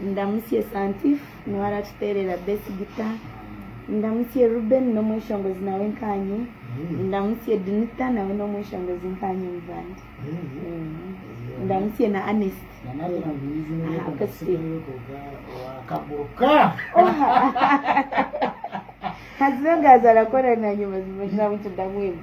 Ndamutse Santif niwe aratuteerera Best Guitar. Ndamutse Reuben n'omweshongozi nawe nkaanye. Ndamutse Dinita nawe n'omweshongozi nkaanye muvandi. Ndamutse na Anest. Haza ogwo aza arakora nanye mazima shana buti ndamwenda.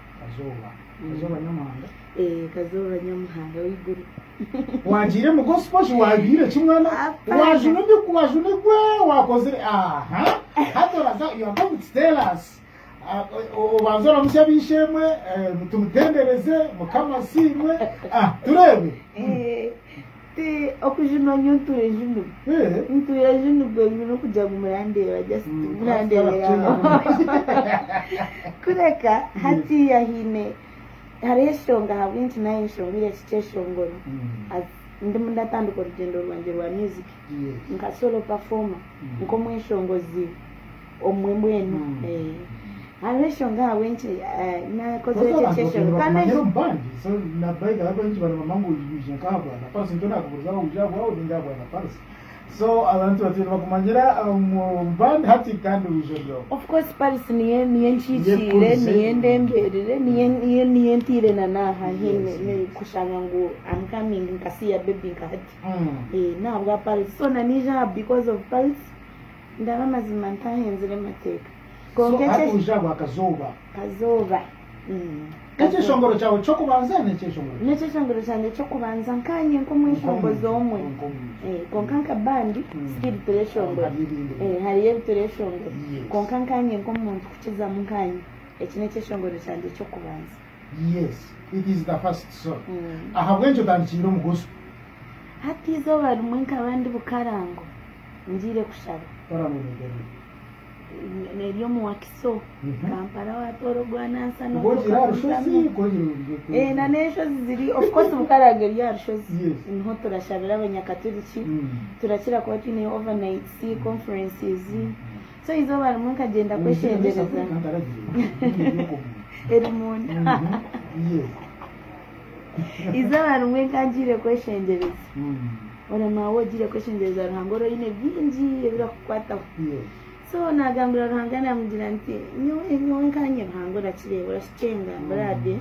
Kazooba Kazooba Nyamuhanga Eeh Kazooba Nyamuhanga w'eiguru Waagiire mu gospel shi waabiire ki mwana waajuna ebi waajuna ebi waakozire aha hati oraza you are going to tell us Ah, o- obanza oramusya ab'eishe-emwe eh, tumutendereze mukama asiimwe Ah, tureebe Eh, Ti okujunwa nyowe ntuura ejunirwe. Ntuura ejunirwe ngu n'okugira ngu murandeeba just murandeebera aho. Kureka hatiiya haine hariho enshonga ahabw'enki naanye nshomire eki kyeshongoro as ndimu ndatandika orugyendo rwangye rwa music nka solo performer nk'omweshongozi. omwe mbwenu hariho enshonga ahabw'enki naakozire ekyo ekyeshoro kandi eki Of course Paris niyo niyo enkihikiire niyo endembeerire niyo niyo niyo entiire na n'aha hine kushanga ngu am coming nkasiiya baby nka hati n'ahabwa Paris so na niija aha because of Paris. Ndaba mazima ntahenzire mateeka. Kwonka ekye. Hati uja bwa kazooba. Kazooba. Ekyeshongoro kyawe kyokubanza nekyeshongoro ki? Nekyeshongoro kyangye kyokubanza nkanye nkomweshongozi omwe. Kwonka nka band still tureshongora. Hariyo ebitureshongora. Kwonka nkanye nkomuntu kukizamu nkanye. Eki nekyeshongoro kyangye kyokubanza. Yes it is the first song ahabw'enki otandikiire omu gospel? Hati eizooba rimwe nkaba ndi Bukarango ngiire kushaba. Bukarango niryo rihi? Neryo omu Wakiso, Kampala watoora ogwanansi Kuba ogiire aha rushozi kwongyera. Na n'enshozi ziri of course Bukarango eri aha rushozi niho turashabira abanyakaturiki turakira kuba twineyo overnights, conferences So eizooba rimwe nkagyenda kwekyengyereza erimunda eizooba rimwe nkangiire kwekyengyereza ora maawe ogiire kwekyengyereza Ruhanga ora oine bingi ebirakukwataho so nagambira Ruhanga namugira nti nyowe nyowe nkanye Ruhanga orakireeba Kukyenga Brady,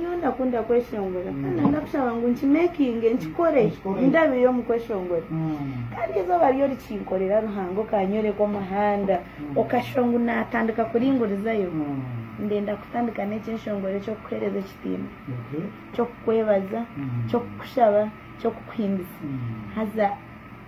nyowe ndakunda kweshongora kandi noyenda kushaba ngu nkimekinge nkikore ndabire omu kweshongora kandi eizooba ryo rikinkorera Ruhanga okanyoreka omuhanda okashuba ngu natandika kuringurizayo ndenda kutandika n'eki enshongora eky'okukuhereza ekitiinwa ky'okukwebaza ky'okukushaba ky'okukuhimbisa haza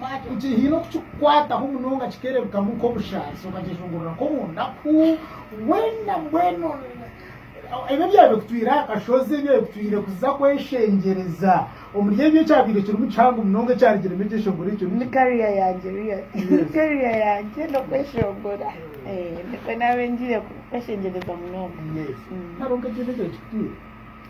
Haine okukikukwataho munonga kikereebekamu nk'obushaasi okakyeshongorora nk'omunda ku weena mbwenu ebyo ebyabaire bikutwire aha kashozi ebyabaire bikutwire kuza kweshengyereza omuri ebyo ekyabaire kirimu kihango munonga ekyarugiremu ekyeshongoro ekyo niki? Ni kariya yangye real. Kariya yangye n'okweshongora nikwo naabaire ngiire kweshengyereza munonga. Hariho nk'ekintu ekyari kikutwire?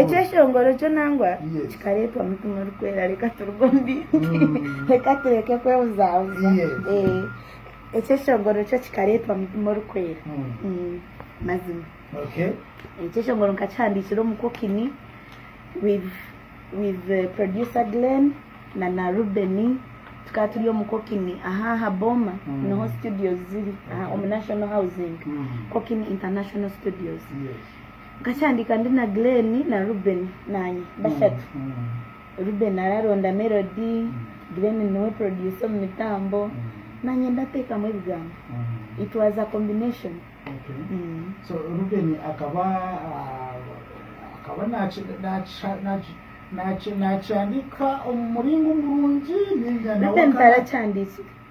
Ekyeshongoro kyo nangwa kikareetwa mutima orikwera reka turuge omu bintu reka tureke kwebuzaabuza ekyeshongoro kyo kikareetwa mutima orikwera mazima ekyeshongoro nkakihandiikira omu kokini with producer Glen na na Ruben tukaba turi omu kokini aha aha booma niho studios ziri omu national housing kokini international studios Nkakyandiika ndi na Glen na Ruben naanye bashatu. Ruben araronda melody, Glen niwe producer omu mitambo, naanye ndateekamu ebigambo. It was a combination. Ruben akaba nakihandiika omu muringo murungi ninga nawe akaba. Ruben tarakyandiikire.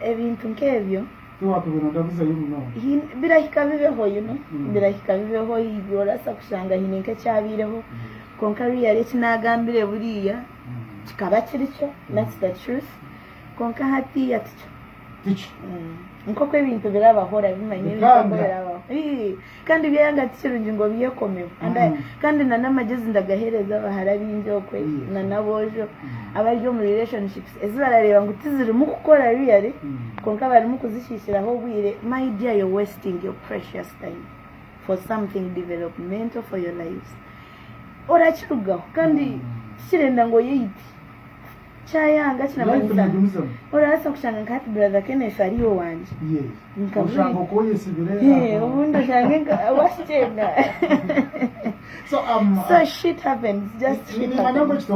ebintu nk'ebyo. Tiwatubire ondabizayo munonga. Birahika bibeho, you know, birahika bibeho, haiguru oraasa kushanga haine nk'ekyabaireho, kwonka really eki naagambire buriya kikaba kiri kyo, that's the truth, kwonka hatiiya tikyo. Tikyo. Nk'oku ebintu birabaho orabimanya ebintu nk'oku birabaho. Bikanga. Ii. Kandi byayanga ti kirungi ngu obyekomeho, kandi na n'amagezi ndagahereza abahara abaingi okwe na n'aboojo abari omu relationships ezi barareeba ngu tizirimu kukora really kwonka barimu kuzishiishiraho obwire, my dear you're wasting your precious time for something developmental for your lives, orakirugaho kandi tikirenda ngu oyeyite. Kyayanga kinamanyisa orabaasa kushanga nka hati brother Kenneth ari owangye nka buri obundi oshange nka owashikyenga so shit happens just shit happens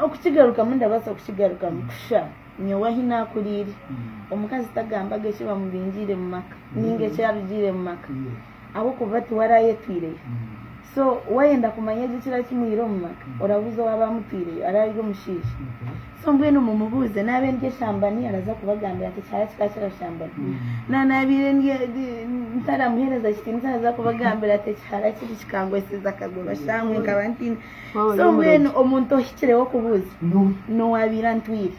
okukigarukamu ndabaasa kukigarukamu kusha nyowe ahi nakuriire omukazi tagambaga eki bamubingiire omu maka ninga eki arugiire omu maka. ahabw'okuba tiwe araayetwireyo. So waayenda kumanya gye ekiraabe kimwire omu maka, orabuuza owaabe amutwireyo araabe ari omushaija. So mbwenu mumubuuze naabe ndi eshambani araaza kubagambira nti ekihara kikaba kirashambani. Na naabaire ndi ntaramuheereza kitiinisa araaza kubagambira ati ekihara kiri kikangwesize akaguru ashangwe nkaba ntiine. So mbwenu omuntu ohikireho kubuuza n'owaabaire antwire.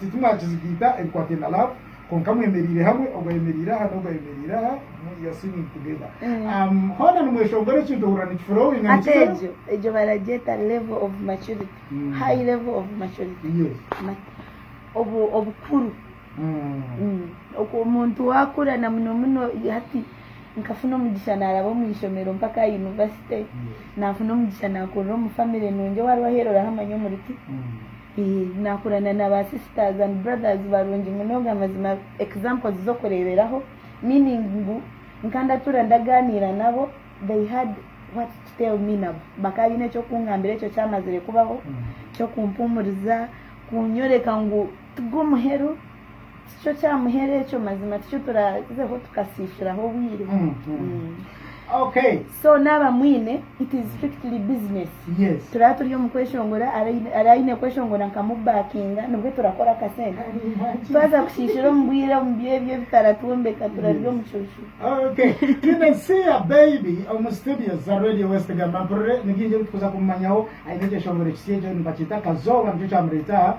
Titimwakizigaita ebikwataine na laavu kwonka mwemereire hamwe, ogu ayemereire aha n'ogu ayemereire aha, you are singing together. Hoona nimweshongora ekintu ohurira nikifurowinga nikizayo. Hati egyo baragyeta level of maturity, high level of maturity, obukuru. Okwo omuntu waakura na muno muno hati nkafuna omugisha naaraba omu ishomero mpaka aha yunivasite, naafuna omugisha naakurira omu famire nungi owaariho aheeru orahamanya omuri ki. Naakurana na ba sisters and brothers barungi munonga mazima examples z'okureeberaho meaning ngu nka ndatuura ndagaaniira nabo they had what to tell me nabo bakaba baine eky'okungambira ekyo kyamazire kubaho, ky'okumpuumuriza, kunyoreka ngu. Ti gwo muheru, ti kyo kya muheru ekyo, mazima tikyo turaazeho tukasiisiraho obwire. So naaba amwine, it is strictly business. Turaba turi omu kweshongora, araba aine kweshongora nkamubakinga nibwe turakora akasente. Twaza kushiishira omu bwire omu by'ebyo ebitaratwombeka turarya omucuucu. Twine Siya Baby omu studio za Radio West. Gamba mpurire ni bingi ebi turikuza kumumanyaho. Aine ekyeshongoro kisya ekyo nibakyeta Kazooba nikyo kyamureeta aha.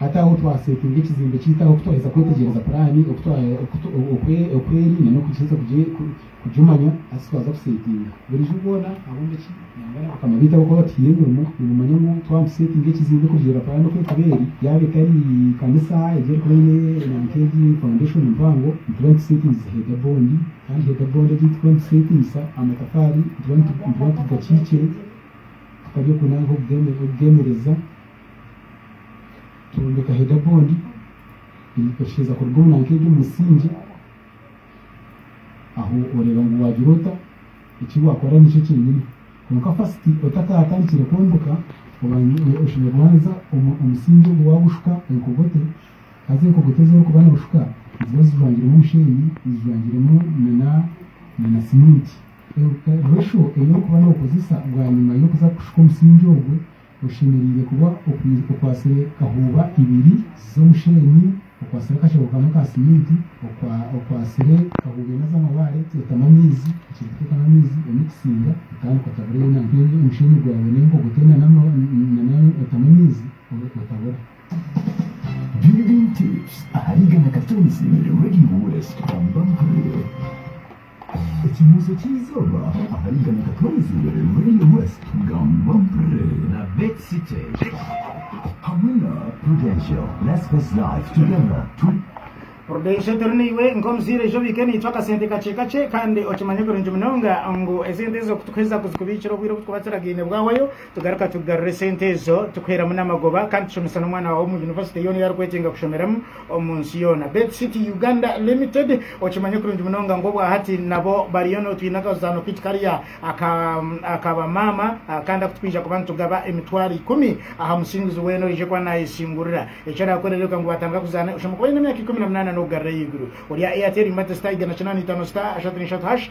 Hati ahu twaseetinga ekizimbe kyaitu ahu twaheza kwetegyereza puraani, oku eri n'okuheza kugimanya, hati twaza kuseetinga. Burijo boona abombeki nangwa n'abakama baitu abarikuba batuhaire emirimo nibamanya ngu twaba nituseetinga ekizimbe kurugiirira puraani oku erikuba eri, yaaba etari kanisa egi erikuba eine enanika egi faundeshoni mpango, nituba nituseetingize heeda boondi kandi heeda boondi egi ei turikuba nituseetingisa amatafaari nituba nitugakiikire. akari oku nanka okugemereza twombeka header bond nitusheza kuruga omu nanka egyo omumusingye aho oreba ngu wagira ota ekiwakora nikyo kyenyini kwonka first otakatandikire kwombeka oshemerire kubanza omusingye ogwo wagushuka enkogote haza enkogote ezi orikuba noshuka niziba zijwangiremu omushenyi zijwangiremu na na cement. Enjwesho ei orikuba nookozesa bwanyima y'okuza kushuka omusingye ogwo, oshemereire kuba okwatsire kahuuba ibiri z'omusheenyi, okwatsire akashaho kamwe ka siminti, okwatsire kahuuba ina z'amabaare, teekamu amaizi, okize kuteekamu amaizi, oine kusiinga otandika otabura yoona omusheenyi gwawe n'enkogoto yoona otamu amaizi otabura. Building Tips ahari Igana Katonzi, Radio West Kampala. Ekinuuso ky'eizooba ahari igana Katonzire, Radio West, Gamba Mpre na Bet City hamwe na Prudential. Let's face life together turi. Prudential turi naiwe nk'omuzaire ija obiike naitwe akasente kakye kakye kandi okimanye kurungi munonga ngu esente ezo kutukuheza kuzikubiikira obwire obu tukubatsiragaine bwahwayo Tugaruka tukugarura esente ezo tukuheeramu n'amagoba kandi tushomesa n'omwana waawe omu yunivasite yoona ei arikwetenga kushomeramu omu nsi yoona. Bed City Uganda Limited, okimanye kurungi munonga ngu obwahati nabo bariyo no twine akazaano kaitu kariya aka bamaama kandi aku twija kuba nitugaba emitwaro ikumi aha musinguzi weena orije kuba nayesingurira. Eki orakore reka ngu batandika kuzaana oshemwe kuba oine emyaka ikumi na munaana n'okugarura ahaiguru. Orya Airtel Mbati's Tiger na kinaana itaano star ashatu na ishatu hash.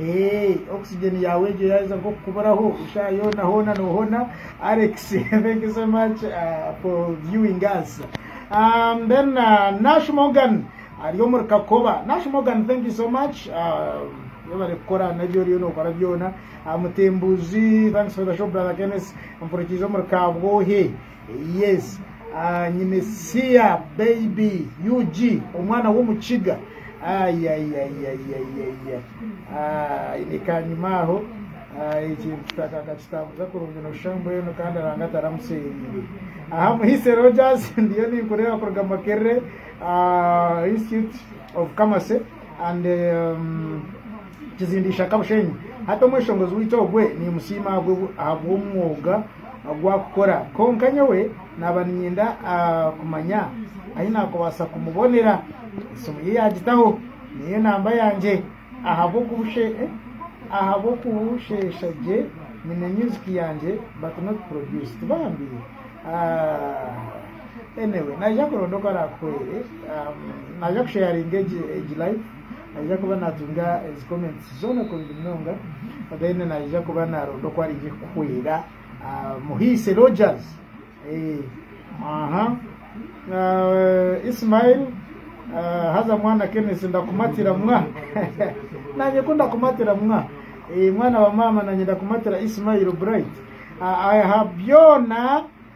Eeh oxygen yaawe egyo yaaheza nk'okukuburaho eshaaha yoona hoona noohona Alex thank you so much for viewing us um, then uh, Nash Morgan ari omuri Kakoba Nash Morgan thank you so much um, webare kukora nabyo oriyo nokora byona mutembuzi thanks for the show brother Kenneth mpurikiize omuri kabwohe Yes aah nyine siya baby ug omwana womukiga ayayayayayaya aah ayine kanyima aho aah ekintu kitaka akakitambuza kurungi noshusha mbwenu kandi aranga ataramuserire aha muhise Rogers ndiyo ninkureeba kuruga Makerere aah institute of commerce and umm. Kizinda Ishaka Bushenyi. Hati omweshongozi waitu ogwe niimusiima ahabw'omwoga ogu arikukora. Kwonka nyowe naaba niinyenda kumanya ahu naakubaasa kumubonera. Esimu ye yaagitaho neye namba yangye ahabw'okubusheesha gye nyine myuziki yangye but not produced bambi. Anyway naija kuronda oku araakuhwere. Naaja kusheyaringa egi live. Naija kuba natunga ezi comments zoona kurungi munonga then naija kuba naronda oku araije kukuhwera muhiise Rogers ahaa Ismail haza mwana Kenneth ndakumatira mwa nanye ku ndakumatira mwa mwana wa maama nanye ndakumatira Ismail Bright aha byoona.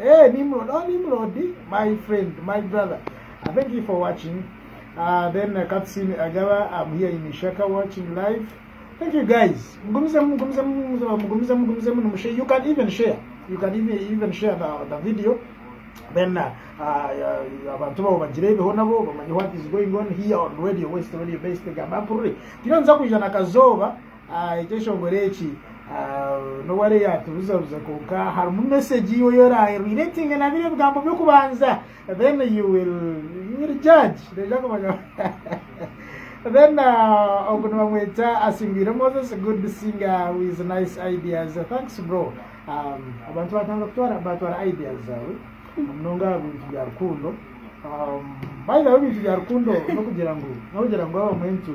Eeh Nimrod oh Nimrod my friend my brother I thank you for watching uh, then uh, Kapsin Agaba I'm here in Ishaka watching live thank you guys mugumizemu mugumizemu mugumizemu mugumizemu mugumizemu nimushe you can even share you can even, even share the, the video then uh, uh, abantu babo bagirebeho nabo bamanye what is going on here on radio west radio best gamba mpurire tino nza kwija na kazoba Ekyeshongoro eki n'obu ariyo yaatubuzabuza kwonka harimu mesegi yiwe ei oraabe oreetinge na biri ebigambo by'okubanza then you will judge noija kumanya then ogu nibamweta Asingwire Moses good singer with nice ideas thanks bro abantu baatandika kutwara baatwara ideas zaawe munonga aha bintu bya rukundo by the way ebintu bya rukundo n'okugira ngu n'okugira ngu abamwe nitu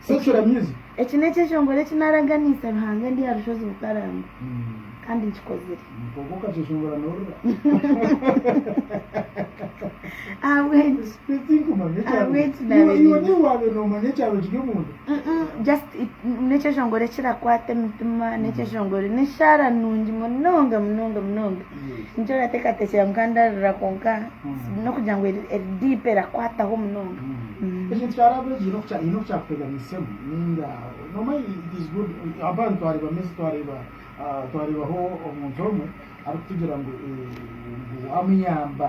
Sekiramyizi. Eki n'ekyo ekyongoro eki naaraganiise Ruhanga ndi aha rushozi Bukaranga. Kandi nkikozire. Kwonka okakyeshongora noorira. Ahabw'enki? Tinkumanya ekyabire. Ahabw'enki naabire. Iwe niiwe waabaire noomanya ekyabire kiri omunda? Just n'ekyeshongoro ekirakwata emitima, n'ekyeshongoro, n'eshaara nungi munonga munonga munonga. Nikyo orateekateekyera ngu kandarira kwonka n'okugira ngu eri eri diipu erakwataho munonga. Ekintu kyaraba egi haine oku haine oku kyakuteganiisemu ninga noomanya it is good abandi twareeba mesi twareeba twareebaho omuntu omwe arikutugira ngu ngu waamuyamba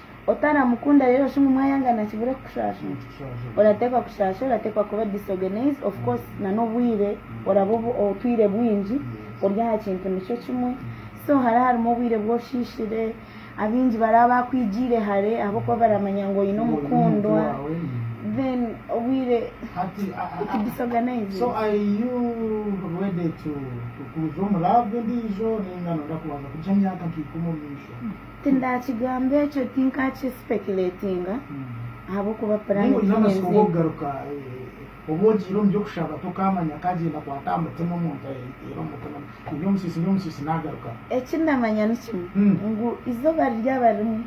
Otaramukunda rero shi ngu mwayangana kibure kukushashura? Oratekwa kushashura, oratekwa kuba disorganized, of course na n'obwire oraba otwire bwingi ori aha kintu nikyo kimwe. So hara harimu obwire bw'oshishire, abingi baraba bakwigiire hare ahabw'okuba baramanya ngu oyine omukundwa, then obwire oti disorganized. Tindaakigamba ekyo, tinkaakisipekireetinga, ahabw'okuba puraani ti ninzigwa. Eki ndamanya ni kimwe, ngu eizooba riryaba rimwe,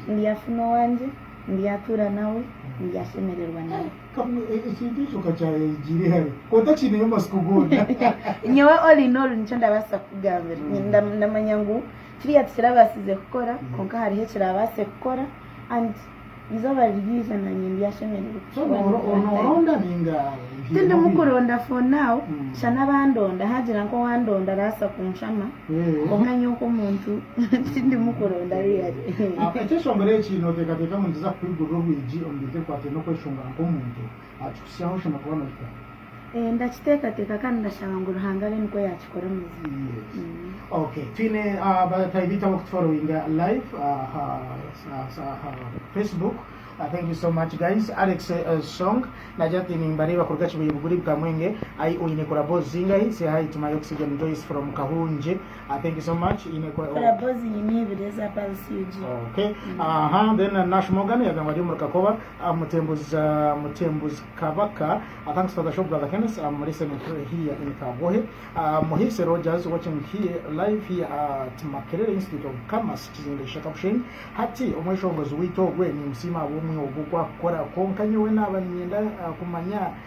ndyafuna owangye, ndyatuura nawe, ndyashemererwa nawe. Nyowe all in all nikyo ndabaasa kukugambira, ndamanya ngu. Kiriya tikirabaasize kukora kwonka hariho ekiraabaase kukora and eizooba ririija naanye ndyashemererwa kukikora nk'oku Tindimu kuronda for now shana abandonda haagira nk'owandonda araasa kunshama kwonka nyowe nk'omuntu tindimu kuronda really. Ekyeshongoro eki nooteekateeka ngu nikiza kukwigurira orwigi omu bintu ebikwataine n'okweshongora nk'omuntu. Akikutsyaho oshemwe kuba nohika. Eeh ndakiteekateeka kandi ndashaba ngu Ruhanga abe nikwo yaakikora mazima. Yes. Ok. Twine bataahi baitu abarikutuforowinga live aha aha Facebook. Thank you so much guys. Alex Song naagira ati Nimbareeba kuruga Kibuye Buguri Kamwenge. Ai oine korabo zingahi? Say hi to my Oxygen Joyce from Kahungye. I thank you so much ine kwa Kora bozi nyine ibiri eza balisiugi. Okay. Aha, then uh, Nash Morgan yagamba ari omuri Kakoba, uh, Mutembuzi uh, Mutembuzi Kabaka. Uh, thanks for the show brother Kenneth. I'm listening to here in Kagohe. Uh, Muhisi Rogers watching here live here at Makerere Institute of Commerce Kizimbe Kishaka Bushenyi. Hati omweshongozi waitu ogwe nimusiima ahabw'omwiha ogu okwakukora. Konka nyowe naaba ninyenda uh, kumanya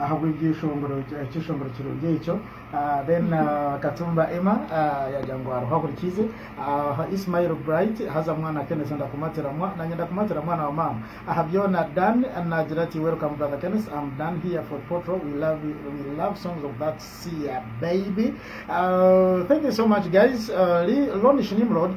Ahabw'ebyo ekyeshongoro kirungi ekyo. Then Katumba Emma yagira ngu hariho ahurikiize. Ismael Bright, Haza mwana Kenneth ndakumatira mwa nanye ndakumatira mwana wa maama aha byona. Dan nagira ati Welcome brother Kenneth am Dan here for Potro we love we love songs of that Sia baby Thank you so much guys Lonish Nimrod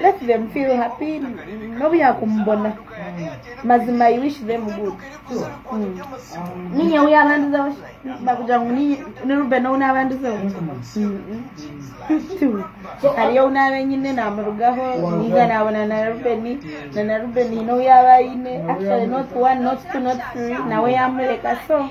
let them feel happy n'obu yakumubona mazima i wish them good Mm. ninye wu yabandizeho bakugira ngu ni- ni ruben ou nabandizeho Tu. hariyo ou naaba enyine namurugaho ninga nabona na rubeni na na rubeni hiine ou yaaba aine actually not one not two not three nawe yamureka so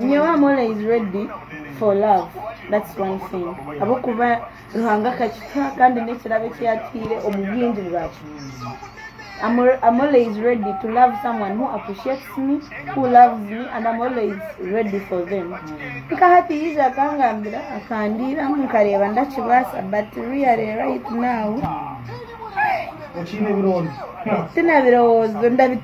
Nyowe am always ready for love that's one thing ahabwokuba Ruhanga akakituha kandi nekirabo eki yatuhaire omu bwingi bwakyo am always ready to love someone who appreciates me who loves me and am always ready for them nka hati yaija akangambira akandiiramu nkareeba ndakibaasa but really right now tinabirowoozo.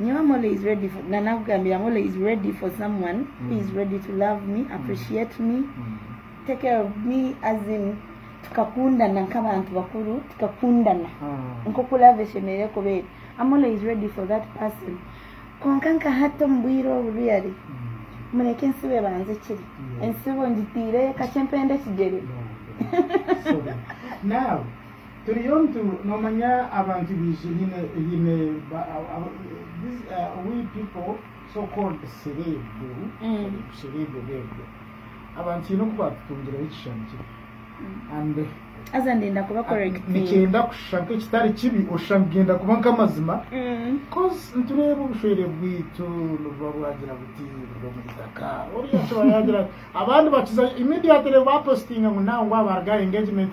Nyowe am always ready for na nakugambira am always ready for someone who is ready to love me, appreciate me, take care of me as in tukakundana nk'abantu bakuru tukakundana nk'oku love eshemereire kuba eri. Am always ready for that person. Kwonka nka hati omu bwire obu really mureke entsibo ebanze ekiri. Entsibo ngitiireyo kakye mpende ekigyere. Sorry. Now. Turiyo nitu nomanya abantu baije hine hine ba aba these are we people so called serebu serebu beebwe abantu hine oku batutungireho ekishushani kibi and Haza ndenda kuba correcting. nikyenda kushusha nk'ekitari kibi oshusha ngu genda kuba nk'amazima coz nitureeba obushwere bwaitu nibuba bwagira buti buri omu itaka oriya akiba yagira ati abandi bakiza immediately bapositinga ngu now ngu aba aruga aha engagement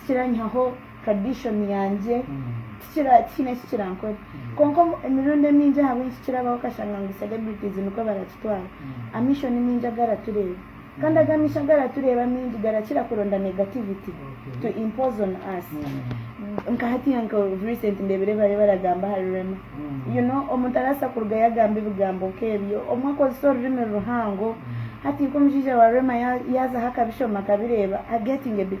tikiranyihaho tradition yangye, tikira tikiine eki kirankore. Kwonka omu emirundi emingi ahabw'enki nikirabaho okashanga ngu celebrities nikwo barakitwara, amiisho ni maingi agaratureeba. Kandi ago amiisho agaratureeba amaingi garakira kuronda negativity to impose on us. Nka hatiiya nka of recent ndeebire bariyo baragamba ahari Rema. You know omuntu arabaasa kurugayo agambe ebigambo nk'ebyo, obumwe akozese orurimi ruhango. Hati nk'omushaija wa Rema ya yaazaho akabishoma akabireeba, I getting a bit.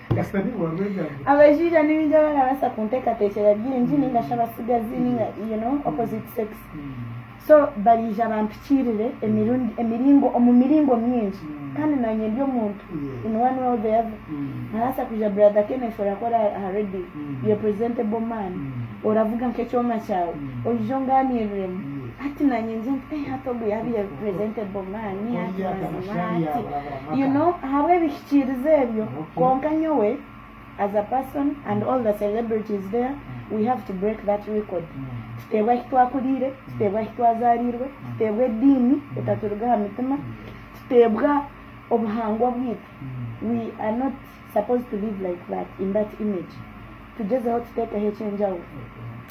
Abashaija nibaija barabaasa kunteekateekyera bingi ninga shi abatsigazi ninga you know opposite sex so baraija bampikiirire emirundi emiringo omu miringo mingi kandi naanye ndi omuntu in one way or the other nkabaasa kwija brother Kenneth orakora aha radio you're a presentable man oravuga nk'ekyoma kyawe oije ongaaniiriremu Hati nanye ngye nti eh hati ogu yabire presentable man hati mazima hati you know ahabwebihikiriza ebyo kwonka nyowe as a person and all the celebrities there we have to break that record tuteebwe ahi twakurire tuteebwe ahi twazarirwe tuteebwe ediini etaturuga aha mitima tuteebwa obuhangwa bwitu we are not supposed to live like that in that image tugyezeho tutekeho ekyenjawuro.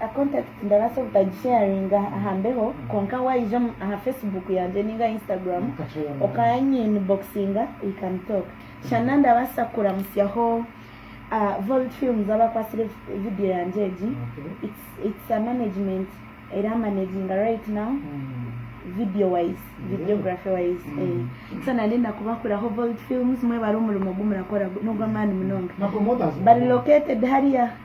A contact ndabaasa obutagisharinga aha mbeho kwonka waija aha Facebook yangye ninga Instagram okanyiinboxinga we can talk. Shana ndabaasa kukuramutsyaho Volt Films abakwatsire video yangye egi. It's a management eramanaginga right now video wise, videography wise eeh. So na ndenda kubakuraho Volt Films mwebare omurimo ogu murakora n'ogw'amaani munonga. Bari located hariya.